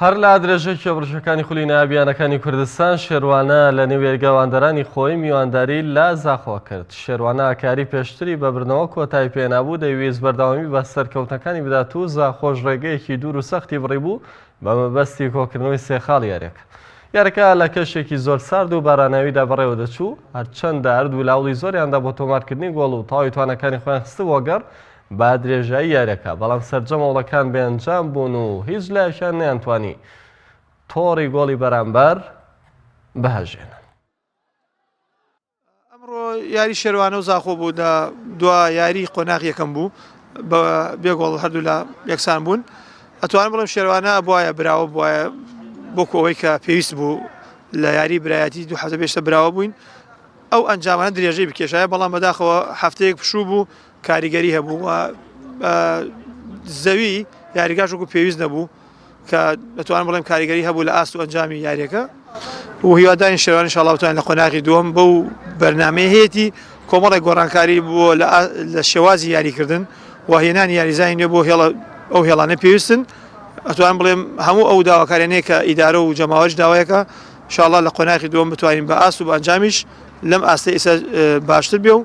هەر لە درێژەی کێبڕکێکانی خولی نایابییانەکانی کوردستان، شێروانە لە نێو یەرگەواندەرانی خۆی میوانداری لە زاخۆ کرد. شێروانە کاری پێشتری بە بردنەوە کۆتایی پێهێنابوو، دەیویست بەردەوامی بە سەرکەوتنەکانی بدات و زاخۆش ڕێگەیەکی دوور و سەختی بڕیبوو بە مەبەستی کۆکردنەوەی سێ خاڵی یارییەکە. یاریەکە لە کەشێکی زۆر سارد و باراناویدا بەڕێوە دەچوو، هەرچەندە ئەرد ولاوڵی زۆریاندا بۆ تۆمارکردنی گۆڵ و تەواوی تواناکانی خۆیان خستبووە گەڕ، بە درێژایی یاریەکە، بەڵام سەرجەم هەوڵەکان بێئەنجام بوون و هیچ لایەکیان نەیانتوانی تۆڕی گۆڵی بەرامبەر بهەژێنن. ئەمڕۆ یاری شێروانە و زاخۆ بوو لە دوا یاری قۆناغ یەکەم بوو بە بێ گۆڵ هەردوو لە یەکسان بوون ئەتوان بڵم شێروانە بواە براوە بواە بۆکو ئەوەی کە پێویست بوو لە یاری برایەتی دوو حەزە بێشتە براوە بووین ئەو ئەنجامانە درێژەی بکێشایە بەڵام بەداخەوە هەفتەیەک پشوو بوو کاریگەری هەبوو و بە زەوی یاریگاش وەکو پێویست نەبوو کە دەتوانم بڵێم کاریگەری هەبوو لە ئاست و ئەنجامی یاریەکە و هیوادارین شێوان شڵاوتان لە قۆناغی دووەم بەو بەرنمەی هەیەی کۆمەڵی گۆڕانکاری بووە لە شێوازی یاریکردن و هێنان یاریزانانی نوێ بۆ هێڵە ئەو هێڵانە پێویستن ئەتوان بڵێم هەموو ئەو داواکارێنێ کە ئیدارە و جەماوەش داوایەکە شاڵە لە قۆناغی دووەم بتوانین بە ئاست و بەنجامیش لەم ئاستە ئسا باشتر بێ و